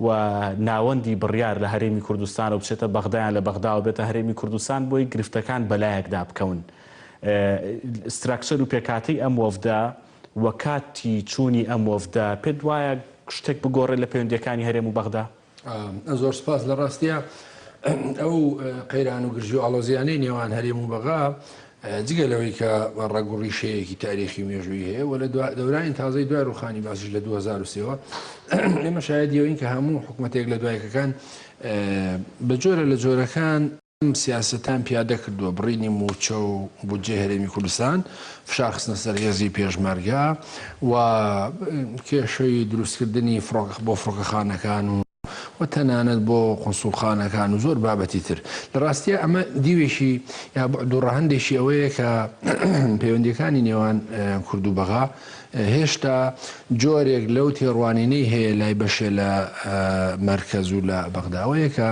و ناوەندی بڕیار لە هەرێمی کوردستانە و بچێتە بەغدا یان لە بەغداوە بێتە هەرێمی کوردستان بۆی گرفتەکان بەلایەکدا بکەون ستراکچەر و پێکهاتەی ئەم وەفدە و کاتی چوونی ئەم وەفدە پێت وایە شتێک بگۆڕێت لە پەیوەندیەکانی هەرێم و بەغدا؟ زۆر سپاس لە ڕاستیا ئەو قەیران و گرژی و ئاڵۆزیانەی نێوان هەرێم و بەغا جگە لەوەی کە ڕەگ و ڕیشەیەکی تاریخی و مێژوویی هەیە و لە دەورانی تازەی دوای ڕووخانی بەعسیش لە دوو هەزار و سێ وە ئێمە شایەدی ئەوین کە هەموو حکوومەت یەک لە دوای یەکەکان بە جۆرە لە جۆرەکان ئەم سیاسەتان پیادە کردووە بڕینی مووچە و بودجەی هەرێمی کوردستان فشار خستنە سەر هێزی پێشمەرگە و کێشەی دروستکردنی فڕۆکە بۆ فڕۆکەخانەکان و و تەنانەت بۆ قونسوڵخانەکان و زۆر بابەتی تر. لە ڕاستیا ئەمە دیوێکی یا بوعد و ڕەهەندێکی ئەوەیە کە پەیوەندیەکانی نێوان کورد و بەغا هێشتا جۆرێک لەو تێڕوانینەی هەیە لای بەشێ لە مەرکەز و لە بەغداوەیە کە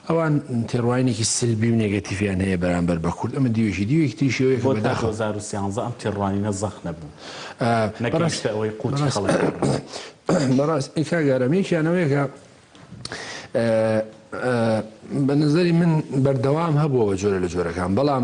ئەوان تێڕوانینێکی سلبی و نێگەتیڤیان هەیە بەرامبەر بە کورد، ئەمە دیوێکی، دیوێکی تریشی ئەوەیە کە بۆ تا بەداخەوە. دوو هەزار و سیانزە ئەم تێڕوانینە زەق نەبوو، بەڕاست، نەگەیشتە ئەوەی قوتی بەڕاست، خەڵک دابنێ. بەڕاست، ئەی کاک ئارام یەکیان ئەوەیە کە بە نەزەری من بەردەوام هەبووە بە جۆرە لە جۆرەکان، بەڵام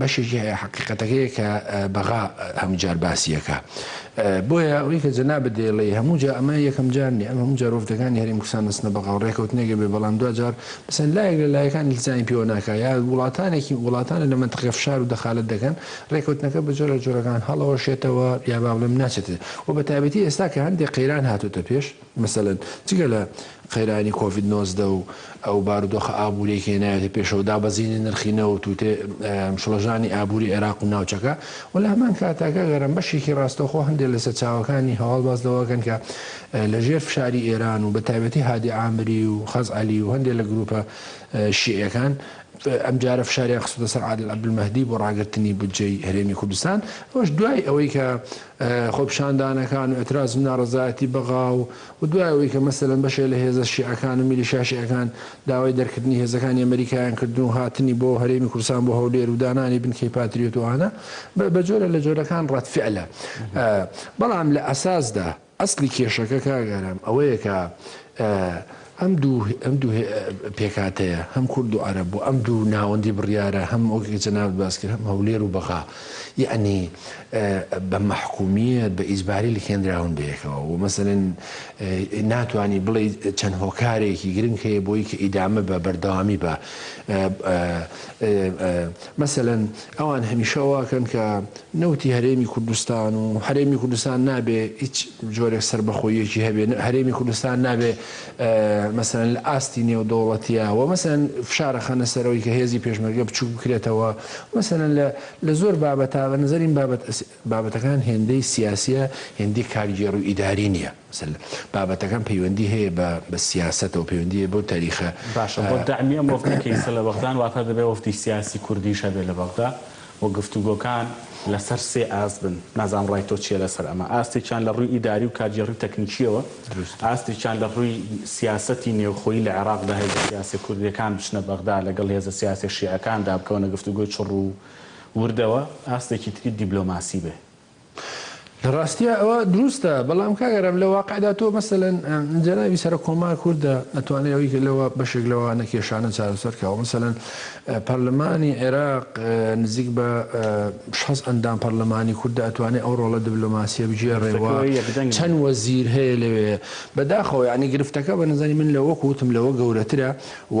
بەشێکی حەقیقەتەکەیە کە بەغا هەموو جار باسی ئەکا. بۆیە ئەوەی کە جەنابت دەیڵێی هەموو جا ئەمە یەکەم جار نیە، ئەمە هەموو جار وەفدەکانی هەرێمی کوردستان دەچنە بەغا و ڕێکەوتنێک ئەبێ بەڵام دوا جار مثلەن لایەک لە لایەکان ئیلتزامی پێوە ناکا یا وڵاتانێکی وڵاتانێ لە مەنتقەی فشار و دەخالەت دەکەن ڕێکەوتنەکە بە جۆرە جۆرەکان هەڵەوەشێتەوە یا با بڵێم ناچێتە و بە تایبەتی ئێستا کە هەندێ قەیران هاتۆتە پێش مەسەلەن جگە لە قەیرانی کۆڤید نۆزدە و ئەو بارودۆخە ئابووریەی کە هێنایەتە پێشەوە، دابەزینی نرخی نەوت و تێ شڵەژانی ئابووری عێراق و ناوچەکە و لە هەمان کاتدا کاک ئارام بەشێکی ڕاستەوخۆ هەندێ لە سەرچاوەکانی هەواڵ باس لەوە ئەکەن کە لە ژێر فشاری ئێران و بە تایبەتی هادی عامری و خەز عەلی و هەندێ لە گرووپە شیعیەکان ئەم جارە فشاریان خستوتە سەر عادل عەبدولمەهدی بۆ ڕاگرتنی بودجەی هەرێمی کوردستان ئەوەش دوای ئەوەی کە خۆپیشاندانەکان و ئێتراز و ناڕەزایەتی بەغا و و دوای ئەوەی کە مەسەلەن بەشێ لە هێزە شیعەکان و میلیشیا شیعەکان داوای دەرکردنی هێزەکانی ئەمەریکایان کردن و هاتنی بۆ هەرێمی کوردستان بۆ هەولێر و دانانی بنکەی پاتریۆت و ئانا بە بە جۆرە لە جۆرەکان ڕەدفعلە بەڵام لە ئەساسدا ئەسلی کێشەکە کاک ئارام ئەوەیە کە ئەم دوو ئەم دوو پێکهاتەیە هەم کورد و عەرەب و ئەم دوو ناوەندی بڕیارە هەم وەک جەنابت باس کرد هەم هەولێر و بەغا یەعنی بە مەحکومییەت بە ئیجباری لکێنراون بەیەکەوە و مەسەلەن ناتوانی بڵێ چەند هۆکارێکی گرنگ هەیە بۆی کە ئیدامە بە بەردەوامی بە مەسەلەن ئەوان هەمیشە واکەن کە نەوتی هەرێمی کوردستان و هەرێمی کوردستان نابێ هیچ جۆرێک سەربەخۆییەکی هەبێ، هەرێمی کوردستان نابێ مەسەلەن لە ئاستی نێودەوڵەتییا و مەسەلەن فشار ئەخەنە سەرەوەی کە هێزی پێشمەرگە بچووک بکرێتەوە و مەسەلەن لە لە زۆر بابەتا بە نەزەریم بابەت بابەتەکان هێندەی سیاسییە هێندەی کارگێڕ و ئیداری نییە. سل. بابەتەکەم پەیوەندی هەیە بە بە سیاسەتەوە پەیوەندی هەیە بەو تاریخە. باشە بۆ دەعمی ئەم وەفدەی کە ئیسە لە بەغدان واتە دەبێ وەفدی سیاسی کوردیش هەبێ لە بەغدا و گفتوگۆکان لەسەر سێ ئاست بن نازانم ڕای تۆ چیە لەسەر ئەمە ئاستێکیان لە ڕووی ئیداری و کارگێڕی تەکنیکیەوە دروست ئاستێکیان لە ڕووی سیاسەتی نێوخۆی لە عێراقدا هێزە سیاسە کوردیەکان بچنە بەغدا لەگەڵ هێزە سیاسە شیعەکاندا بکەونە گفتوگۆی چڕ و وردەوە ئاستێکی تری دیبلۆماسی بێ لە ڕاستیا ئەوە دروستە، بەڵام کاک ئارام لە واقعدا تۆ مەسەلەن جەنابی سەرۆک کۆمار کوردە ئەتوانێ ئەوی کە لەوە بەشێک لەوە نەکێشانە چارەسەر کاوە مەسەلەن پەرلەمانی عێراق نزیک بە شەست ئەندام پەرلەمانی کوردە ئەتوانێ ئەو ڕۆڵە دبلۆماسیە بگێڕێ و چەند وەزیر هەیە لەوێ بەداخەوە یانی گرفتەکە بە نەزانی من لە وەک وتم لەوە گەورەترە و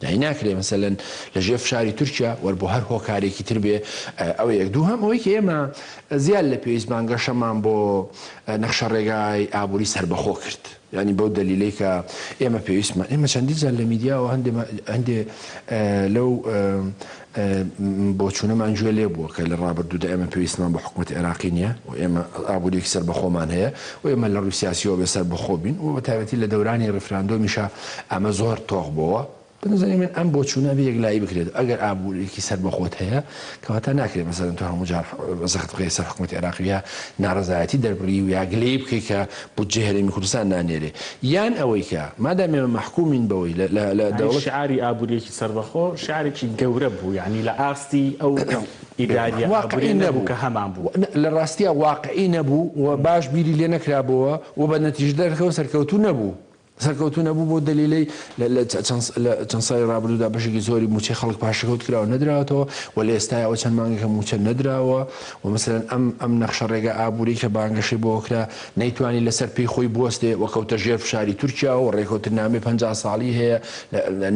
داین ناکرێ مەسەلەن لە ژێر فشاری تورکیا وەر بۆ هەر هۆکارێکی تر بێ ئەوە یەک دووهەم ئەوەی کە ئێمە زیاد لە پێویست بانگەشەمان بۆ نەخشە ڕێگای ئابووری سەربەخۆ کرد یانی بەو دەلیلەی کە ئێمە پێویستمان ئێمە چەندی جار لە میدیاوە هەندێ هەندێ لەو بۆچوونەمان گوێ لێ بووە کە لە ڕابردوودا ئێمە پێویستمان بە حکومەتی عێراقی نییە و ئێمە ئابوورییەکی سەربەخۆمان هەیە و ئێمە لە ڕووی سیاسییەوە بێ سەربەخۆ بین و بەتایبەتی لە دەورانی ڕیفراندۆمیشا ئەمە زۆر تۆخ بۆوە. بە نەزەری من ئەم بۆچوونە ئەبێ یەکلایی بکرێت. ئەگەر ئابوورییەکی سەربەخۆت هەیە، کەواتە ناکرێ مەسەلەن تۆ هەموو جار زەخت بخەیە سەر حکومەتی عێراق و یا ناڕەزایەتی دەربڕی و یا گلەیی بکەی کە بودجەی هەرێمی کوردستان نانێرێ. یان ئەوەی کە مادام ئێمە مەحکوومین بەوەی لە دەوڵەتی. سەربەخۆ شارێکی گەورە بوو یانی لە ئاستی ئەو ئیداریە ئابوریە نەبوو کە هەمان بوو. لە ڕاستیا واقعی نەبوو و باش بیری لێ نەکرابۆوە و بە نەتیجە دەرەکەوە سەرکەوتوو نەبوو. سەرکەوتوو نەبوو بەو دەلیلەی لە لە چەند ساڵی ڕابردوودا بەشێکی زۆری مووچەی خەڵک پاشەکەوت کراوە نەدراوەتەوە و لە ئێستایەوە چەند مانگێکە مووچە نەدراوە و مەسەلەن ئەم ئەم نەخشە ڕێگا ئابووریەی کە بانگەشەی بۆوە کرا نەیتوانی لەسەر پێی خۆی بوەستێ و کەوتە ژێر فشاری تورکیاوە و رێکەوتننامەی پەنجا ساڵی هەیە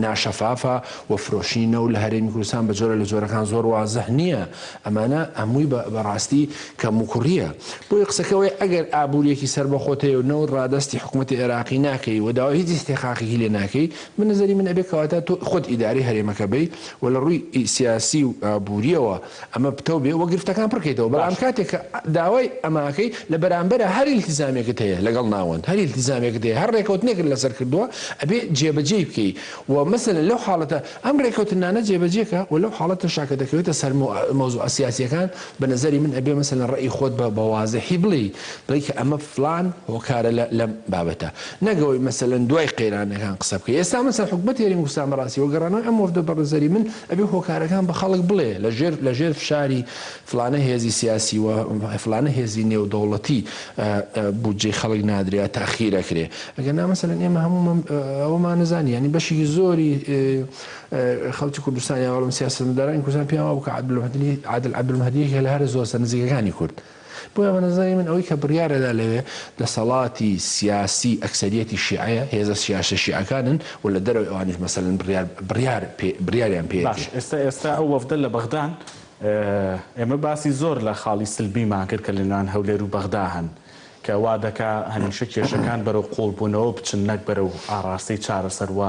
ناشەفافە و فرۆشتنی نەوت لە هەرێمی کوردستان بە جۆرە لە جۆرەکان زۆر وازح نییە ئەمانە هەمووی بە راستی کەموکوڕییە بۆیە قسەکە وەیە ئەگەر ئابووریەکی سەربەخۆت هەیە و نەوت رادەستی حکومەتی عێراقی ناکەی و داوای هیچ ئیستحقاقێکی لێ ناکەی بە نەزەری من ئەبێ کەواتە تۆ خۆت ئیدارەی هەرێمەکە بی و لە رووی سیاسی و ئابووریەوە ئەمە پتەو بێ وە گرفتەکان پڕ کەیتەوە بەڵام کاتێک کە داوای ئەمە ئەکەی لە بەرامبەرا هەر ئیلتیزامێکت هەیە لەگەڵ ناوەند هەر ئیلتیزامێکت هەیە هەر ڕێکەوتنێکت لەسەر کردووە ئەبێ جێبەجێی بکەی وە مەسەلەن لەو حاڵەتە ئەم ڕێکەوتنانە جێبەجێ کە وە لەو حاڵەتەشا کە دەکەوێتە سەر مۆ مەوزوعە سیاسییەکان بە نەزەری من ئەبێ مەسەلەن ڕەئی خۆت بە بە وازحی بڵێی بڵێی کە ئەمە فڵان هۆکارە لە لەم بابەتە نەک ئەوەی مەسەلەن دوای قەیرانەکان قسە بکەی ئێستا مەسەلەن حکومەت هێرێمی کوردستان بەڕاستی وە گەڕانەوەی ئەم وەفدە بە نەزەری من ئەبێ هۆکارەکان بە خەڵک بڵێ لە ژێر لە ژێر فشاری فلانە هێزی سیاسی و فلانە هێزی نێودەوڵەتی بودجەی خەڵک نادرێ یا تاخیر ئەکرێ ئەگەر نا مەسەلەن ئێمە هەموومان ئەوەمان نەزانی یانی بەشێکی زۆری خەڵکی کوردستان یا بەڵام سیاسەتمەدارانی کوردستان پێیان وابوو کە عادل مەهدی عادل عەبدولمەهدییەکێکە لە هەرە زۆرە نزیکەکانی کورد بۆیە بە نەزەری من ئەوەی کە بڕیار ئەدا لەوێ دەسەڵاتی سیاسی ئەکسەریەتی شیعەیە، هێزە سیاسە شیعەکانن و لە دەرەوەی ئەوانیش مەسەلەن بڕیار بڕیار پێ بڕیاریان پێ باش یەتێ. ئێستا ئێستا ئەو وەفدە لە بەغدان ئێمە باسی زۆر لە خاڵی سلبیمان کرد کە لە نێوان هەولێر و بەغدا هەن کە وا دەکا هەمیشە کێشەکان بەرەو قوڵبوونەوە بچن نەک بەرەو ئاڕاستەی چارەسەر و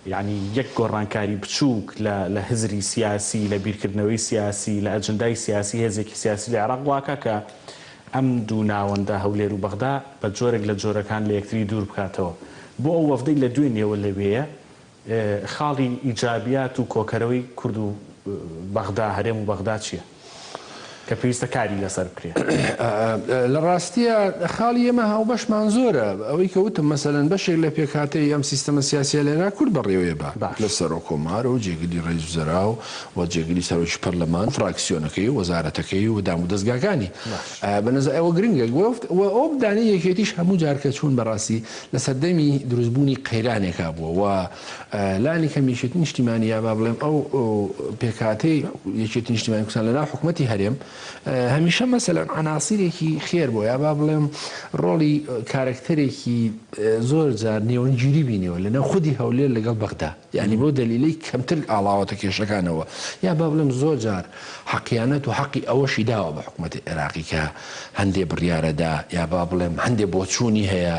یەعنی یەک گۆڕانکاری بچووک لە لە هزری سیاسی، لە بیرکردنەوەی سیاسی، لە ئەجندای سیاسی هێزێکی سیاسی لە عێراق واکا کە ئەم دوو ناوەندە، هەولێر و بەغدا، بە جۆرێک لە جۆرەکان لە یەکتری دوور بکاتەوە. بۆ ئەو وەفدەی لە دوێنێوە لەوێیە، خاڵی ئیجابیات و کۆکەرەوەی کورد و بەغدا، هەرێم و بەغدا چییە؟ کە پێویستە کاری لەسەر بکرێت. لە ڕاستییا خاڵی ئێمە هاوبەشمان زۆرە، ئەوەی کە وتم مەسەلەن بەشێک لە پێکهاتەی ئەم سیستەمە سیاسییە لەێرا کورد بەڕێوەیە بە لە سەرۆک کۆمار و جێگری ڕێیس وزرا و و جێگری سەرۆکی پەرلەمان و فراکسیۆنەکەی و وەزارەتەکەی و دامودەزگاکانی بە نەزە ئەوە گرنگە گوفت و ئەوەبدانێ یەکێتیش هەموو جار کە چوون بە ڕاستی لە سەردەمی دروست بوونی قەیرانێکا بووە و لانی کەم یەکێتی نیشتیمانی یا با بڵێم ئەو پێکهاتەی یەکێتی نیشتیمانی کوردستان لەناو حکوومەتی هەرێم هەمیشە مەسەلەن عناسیرێکی خێر بۆ یا با بڵێم ڕۆڵی کارکتەرێکی زۆر جار نێوەنگیری بینیەوە لەناو خودی هەولێر لەگەڵ بەغدا یعنی بۆ دەلیلی کەمتر ئاڵاوەتە کێشەکانەوە یا با بڵێم زۆر جار حەقیانەت و حەقی ئەوەشی داوە بە حکوومەتی عێراقی کە هەندێ بڕیارەدا یا با بڵێم هەندێ بۆچوونی هەیە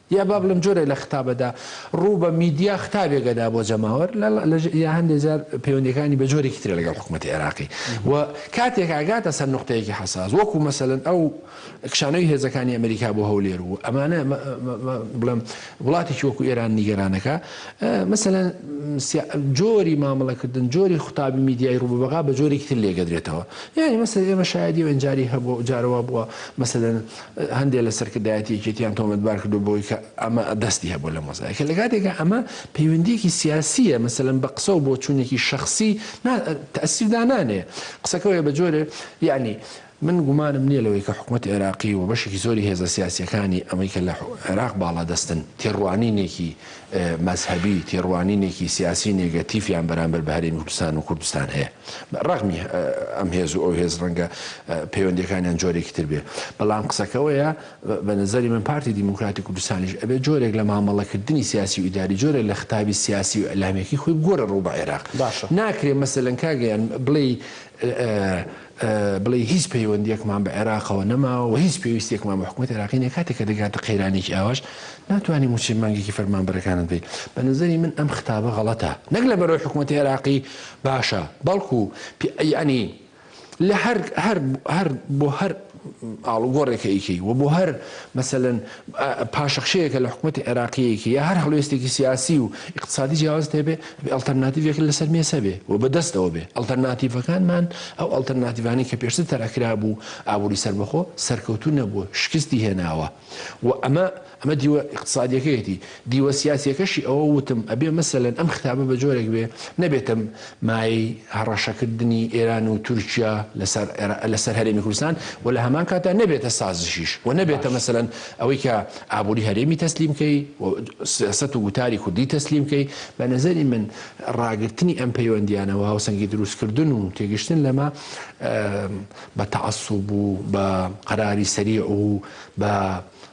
یا با بڵێم جۆرێک لە ختابەدا ڕوو بە میدیا ختابێک ئەدا بۆ جەماوەر یا هەندێک جار پەیوەندییەکانی بە جۆرێکی ترە لەگەڵ حکوومەتی عێراقی و کاتێک ئەگاتە سەر نوقتەیەکی حەساس وەکوو مەسەلەن ئەو کشانەوی هێزەکانی ئەمریکا بۆ هەولێر و ئەمانە بڵێم وڵاتێکی وەکوو ئێران نیگەران ئەکا مەسەلەن جۆری مامەڵەکردن جۆری خطابی میدیای ڕوو بە بەغا بە جۆرێکی تر لێگەدرێتەوە یانی مەسەلەن ئێمە شایەدی و ئەنجاری هەبوو جارەوە بووە مەسەلەن هەندێک لە سەرکردایەتی یەکێتییان تۆمەتبار کردووە بەوەی کە ئەمە دەستی هەبووە لە مۆزایکە، لە کاتێکا ئەمە پەیوەندییەکی سیاسییە، مەسەلەن بە قسە و بۆچوونێکی شەخسی نا تەئسیر دانانێ. قسەکە وەیە بە جۆرێ یەعنی من گومانم نییە لەوەی کە حکومەتی عێراقی و بەشێکی زۆری هێزە سیاسییەکانی ئەوەی کە لە عێراق باڵادەستن، تێڕوانینێکی. مەزهەبی، تێڕوانینێکی سیاسی نێگەتیفیان بەرامبەر بە هەرێمی کوردستان و کوردستان هەیە. ڕەغمی ئەم هێز و ئەو هێز ڕەنگە پەیوەندیەکانیان جۆرێکی تر بێ. بەڵام قسەکە ئەوەیە بە نەزەری من پارتی دیموکراتی کوردستانیش ئەبێ جۆرێک لە مامەڵەکردنی سیاسی و ئیداری، جۆرێک لە ختابی سیاسی و ئیلامیەکەی خۆی بگۆرێ ڕوو بە عێراق. ناکرێ مەسەلەن کاک گیان بڵێی بڵێی هیچ پەیوەندیەکمان بە عێراقەوە نەماوە و هیچ پێویستیەکمان بە حکومەتی عێراقی نیە، کاتێک کە دەگاتە قەیرانێکی ئاواش ناتوانی موچەی مانگێکی فەرمانبەرەکانت بدەیت، بە نەزەری من ئەم ختابە غەڵەتە، نەک لە بەرەوەی حکومەتی عێراقی باشە، بەڵکو یەعنی لە هەر هەر هەر بۆ هەر ئاڵوگۆڕێکە ئیکەی و بۆ هەر مەسەلەن پاشەکشەیەکە لە حکومەتی عێراقییەکی یا هەر هەڵوێستێکی سیاسی و ئیقتسادی جیاوازت هەبێ، ئەبێ ئەڵتەرناتیڤێکت لەسەر مێز هەبێ و بە دەستەوە بێ. ئەڵتەرناتیڤەکانمان، ئەو ئەڵتەرناتیڤانەی کە پێشتر تەرح کرابوو، ئابووری سەربەخۆ، سەرکەوتوو نەبووە، شکستی هێناوە و ئەمە، ئەمە دیوە ئیقتسادییەکەیەتی. دیوە سیاسیەکەشی ئەوە وتم ئەبێ مەسەلەن ئەم خیتابە بە جۆرێک بێ نەبێتە مایەی هەڕەشەکردنی ئێران و تورکیا لە سەر هەرێمی کوردستان و لە هەمان کاتدا نەبێتە سازشیش و نەبێتە مەسەلەن ئەوەی کە ئابووری هەرێمی تەسلیم کەی و سیاسەت و گوتاری کوردی تەسلیم کەی. بە نەزەری من ڕاگرتنی ئەم پەیوەندیانە و هاوسەنگی دروست کردن و تێگەشتن لەمە بە تەعەسوب و بە قەراری سەریع و بە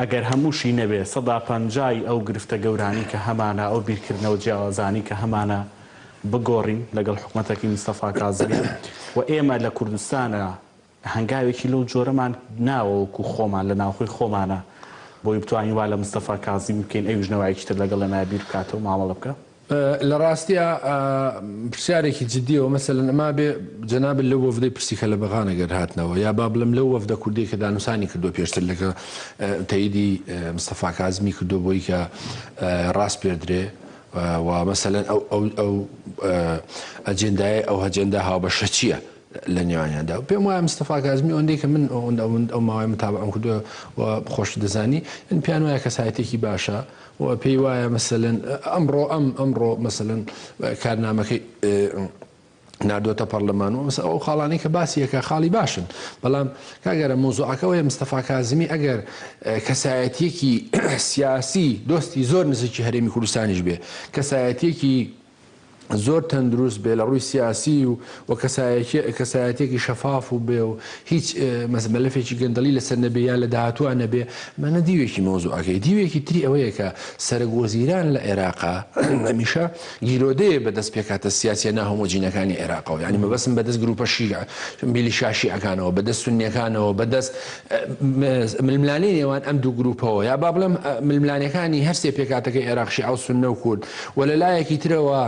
ئەگەر هەمووشی نەبێ سەدا پەنجا ی ئەو گرفتە گەورانەی کە هەمانە، ئەو بیرکردنەوە جیاوازانەی کە هەمانە بگۆڕین لەگەڵ حکومەتەکەی مستەفا کازمی و ئێمە لە کوردستانا هەنگاوێکی لەو جۆرەمان ناوە وەکو خۆمان لە ناوخۆی خۆمانا بۆی بتوانین وا لە مستەفا کازمی بکەین ئەویش نەوایەکی تر لەگەڵ ئێمە بیر بکاتەوە مامەڵە بکا. لە ڕاستیا پرسیارێکی جدیەوە مەسەلەن ئەما بێ جەنابت لەو وەفدەی پرسی کەلەبەغانە گەر هاتنەوە یا با بڵێم لەو وەفدە کوردی کە دانوسانی کردو پێشتر لەگە تەیدی مستەفا کازمی کردو بۆی کە ڕاست پێردرێ و مەسەلەن ئەو ئەو ئەو ئەجێندایە ئەو هەجێندا هاوبەشە چییە لە نێوانیاندا و پێم وایە مستەفا کازمی ئەوەندەی کە من ئەوەندە ئەوەند ئەو ماوەی متابعەم کردووە و خۆشت دەزانی من پێیان وایە کەسایەتێکی باشە و پێی وایە مەسەلەن ئەمڕۆ ئەم ئەمڕۆ مەسەلەن کارنامەکەی ناردۆتە پەرلەمان و ئەو خاڵانی کە باسیەکە خاڵی باشن بەڵام کاگەرە مۆزۆعەکەەوەی مستەفا کازمی ئەگەر کەسایەتیەکی سیاسی دۆستی زۆر نزیکی هەرێمی کوردستانیش بێ کەسایەتیەکی زۆر تەندروست بێ لە ڕووی سیاسی و و کەسایەتێکی شەفاف و بێ و هیچ مەسمەلەفێکی گەندەڵی لەسەر نەبێ یا لە داهاتوە نەبێ مەە دیوێکی مۆزوعەکەی دیوێکی تری ئەوەیە کە سەرەک وەزیران لە عێراقا هەمیشە گیرۆدەیە بە دەست پێکاتە سیاسە ناهۆمۆجینەکانی عێراقەوە ینی مەبەسم بەدەست گروپە شیع میلی شاشیعەکانەوە بەدەست سنیەکانەوە بەدەست ململانێی نێوان ئەم دوو گرووپەوە یا با بڵێم ململانێکانی هەرسێ پێکاتەکەی عێراق شیعە و سوننە و کورد و لە لایەکی ترەوە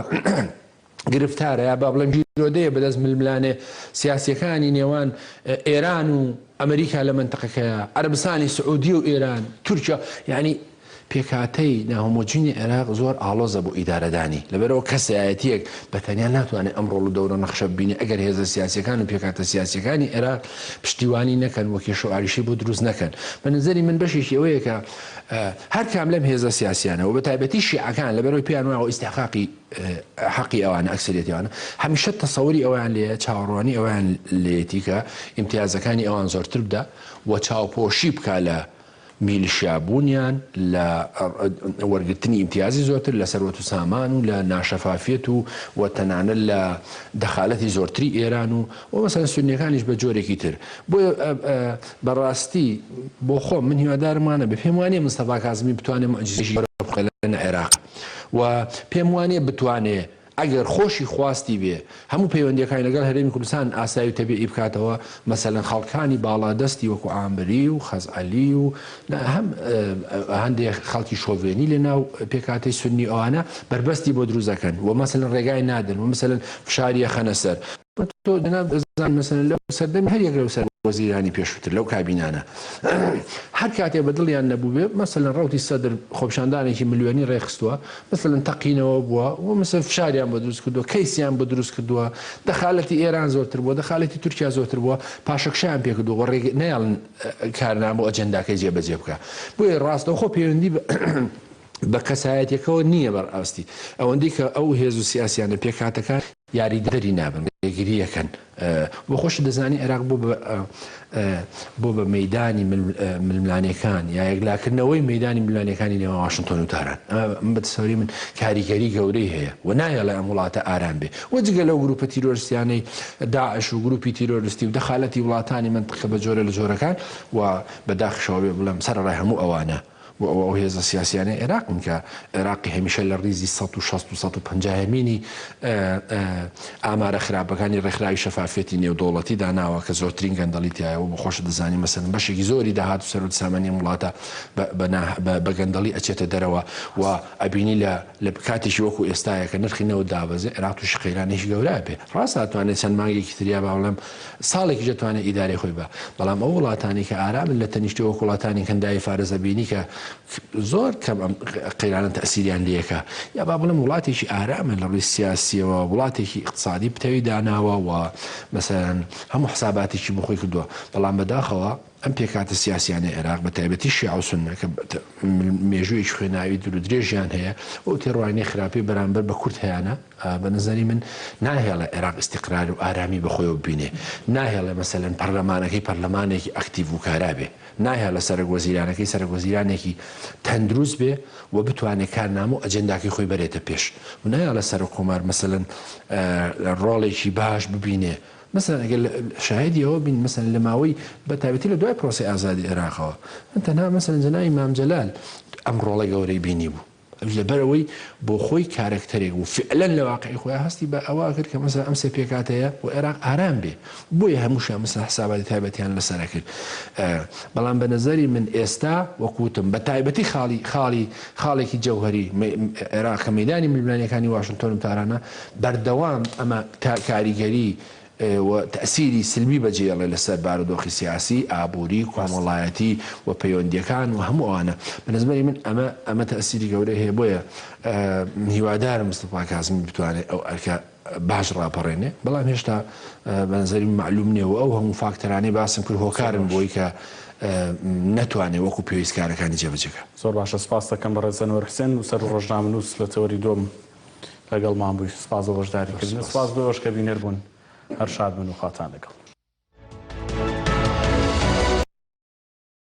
گرفتارە یا با بڵێم گیرۆدەیە بەدەست ململانێ سیاسیەکانی نێوان ئێران و ئەمریکا لە منتەقەکەیە عەرەبستانی سعودی و ئێران تورکیا یعنی پێکهاتەی ناهۆمۆجینی عێراق زۆر ئاڵۆزە بۆ ئیدارەدانی، لەبەرئەوە کەسایەتییەک بە تەنیا ناتوانێت ئەم ڕۆڵ و دەورە و نەخشە ببینێت ئەگەر هێزە سیاسییەکان و پێکهاتە سیاسییەکانی عێراق پشتیوانی نەکەن و کێشە و ئاریشەی بۆ دروست نەکەن. بە نەزەری من بەشێکی ئەوەیە کە هەر کام لەم هێزە سیاسییانە و بە تایبەتی شیعەکان لەبەرئەوەی پێیان وایە ئیستحقاقی حەقی ئەوانە، ئەکسەریەتی ئەوانە، هەمیشە تەسەوری ئەوەیان لێیە، چاوەڕوانی ئەوەیان لێیەتی کە ئیمتیازەکانی ئەوان زۆرتر بدا و چاوپۆشی بکا لە میلشیا بوونیان، لە وەرگرتنی ئیمتیازی زۆرتر لە سەروەت و سامان و لە ناشەفافیەت و و تەنانەت لە دەخالەتی زۆرتری ئێران و و مەسەلەن سوننیەکانیش بە جۆرێکی تر بۆیە بە ڕاستی بۆ خۆم من هیوادارم وا نەبێ پێم وانیە مستەفا کازمی بتوانێ موعجیزەیەکی گەورە بخوڵقێ لە عێراق و پێم وانیە بتوانێ ئەگەر خۆشی خواستی بێ هەموو پەیوەندییەکانی لەگەڵ هەرێمی کوردستان ئاسایی و تەبیعی بکاتەوە، مەسەلەن خەڵکانی باڵادەستی وەکوو عامری و خەزعەلی و هەم هەندێ خەڵکی شۆڤێنی لە ناو پێکهاتەی سوننی ئەوانە بەربەستی بۆ دروست ئەکەن و مەسەلەن ڕێگای نادەن و مەسەلەن فشاری ئەخەنە سەر تۆ جەنابت ئەزان مەسەلەن لەو سەردەمی هەر یەک لەو سەر وەزیرانی پێشووتر لەو کابینانە هەر کاتێ بە دڵیان نەبووبێ مەسەلەن ڕوتی سەدر خۆپشاندانێکی ملیۆنی ڕێخستووە مەسەلەن تەقینەوە بووە و مەسەر فشاریان بۆ دروست کردووە کەیسیان بۆ دروست کردووە دەخالەتی ئێران زۆرتر بووە دەخالەتی تورکیا زۆرتر بووە پاشەکشیان پێکردووە ڕێ نەیاڵن کارنامە و ئەجنداکەی جێبەجێ بکە بۆیە ڕاستەوخۆ پەیوەندی بە کەسایەتەکەەوە نییە بەڕاستی ئەوەندی کە ئەو هێز و سیاسیانە پێکاتەکان یاریدەدەری نابن ڕێگری ئەکەن بۆ خۆشت دەزانی عێراق بۆ بۆ بە مەدانی ململانەکان یا یەکلاکردنەوەی مەدانی ملانەکانی نێوان واشنگتۆن و تاران بە سەری من کاریگەری گەورەی هەیە و نایەڵێ ئەم وڵاتە ئارام بێ و جگە لەو گروپە تیرۆرسیانەی داعش و گروپی تیرۆرستی و دەخالەتی وڵاتانی منتقە بە جۆرە لە جۆرەکان و بەداخشەوە بێ بڵێم سەرڕای هەموو ئەوانە و ئەوە ئەو هێزە سیاسیانەی عێراقن کە عێراقی هەمیشە لە ڕیزی سەد و شەست و سەد و پەنجا هەمینی ئامارە خراپەکانی ڕێکخراوی شەفافیەتی نێودەوڵەتی داناوە کە زۆرترین گەندەڵی تیایە وە خۆشت دەزانی مەسەلەن بەشێکی زۆری داهات و سەروەت سامانی ئەم وڵاتە بە گەندەڵی ئەچێتە دەرەوە و ئەبینی لە لە کاتێکی وەکو ئێستایە کە نرخی نەوت دابەزێ عێراق توشی قەیرانێکی گەورە ئەبێ ڕاستە ئەتوانێ چەند مانگێکی تر یا با بڵێم ساڵێکیش دەتوانێت ئیدارەی خۆی بە بەڵام ئەو وڵاتانی کە ئارامن لە تەنیشتی وەک وڵاتانی کەنداوی فارس ئەبینی کە زۆر کەم ئەم قەیرانە تەئسیریان لەکە یا با بڵێم وڵاتێکی ئارامە لە ڕووی سیاسیەوە وڵاتێکی ئیقتسادی پتەوی داناوە و مەسەلەن هەموو حساباتێکی بۆ خۆی کردووە بەڵام بەداخەوە ئەم پێکهاتە سیاسیانەی عێراق بە تایبەتی شیعە و سوننە کە مێژوویەکی خوێناوی دوور و درێژیان هەیە و ئەو تێڕوانینەی خراپەی بەرامبەر بە کورد هەیانە بە نەزەری من ناهێڵێ عێراق ئیستیقرار و ئارامی بە خۆیەوە ببینێ ناهێڵێ مەسەلەن پەرلەمانەکەی پەرلەمانێکی ئەکتیڤ و کارا بێ ناهێڵێ سەرەک وەزیرانەکەی سەرەک وەزیرانێکی تەندروست بێ و بتوانێ کارنامە و ئەجێنداکەی خۆی بەرێتە پێش و نایەڵێ سەرۆک کۆمار مەسەلەن ڕۆڵێکی باش ببینێ مەسەلەن ئەگەر شاهیدی ئەوە بین مەسەلەن لە ماوەی بە تایبەتی لە دوای پرۆسەی ئازادی عێراقەوە من تەنها مەسەلەن جەنابی مام جەلال ئەم ڕۆڵە گەورەی بینی بوو لەبەر ئەوەی بۆ خۆی کارەکتەرێک بوو فعلا لە واقعی خۆیان هەستی بە ئەوە کرد کە مەسەلەن ئەم سێ پێکهاتەیە بۆ عێراق ئارام بێ بۆیە هەمووشیان مەسەلەن حساباتی تایبەتیان لەسەر کرد بەڵام بە نەزەری من ئێستا وەکوتم بە تایبەتی خاڵی خاڵی خاڵێکی جەوهەری عێراق کە مەیدانی ململانیەکانی واشنتۆن و تارانە بەردەوام ئەمە کاریگەری و تەئسیری سلبی بەجێیەڵێ لەسەر بارودۆخی سیاسی، ئابووری، ڕاست. کۆمەڵایەتی و پەیوەندییەکان و هەموو ئەوانە. بە نەزمەنی من ئەمە ئەمە تەئسیری گەورەی هەیە بۆیە هیوادارم مستەفا کازمی بتوانێ ئەو ئەرکە باش ڕاپەڕێنێ بەڵام هێشتا بە نەزەری من مەعلووم نییە و ئەو هەموو فاکتەرانەی باسم کرد زۆر هۆکارن باش. بۆی کە نەتوانێ وەکوو پێویست کارەکانی جێبەجێ کا. زۆر باشە سپاست دەکەم بەڕێز ئەنوەر حوسێن نووسەر و ڕۆژنامەنووس لە تەوەری دووەم لەگەڵمان بوویت سپاس بۆ بەشداریکردنت. سپاس بۆ ئێوەش کە بینەر بوون. هەر شاد بن و خواتان لەگەڵ.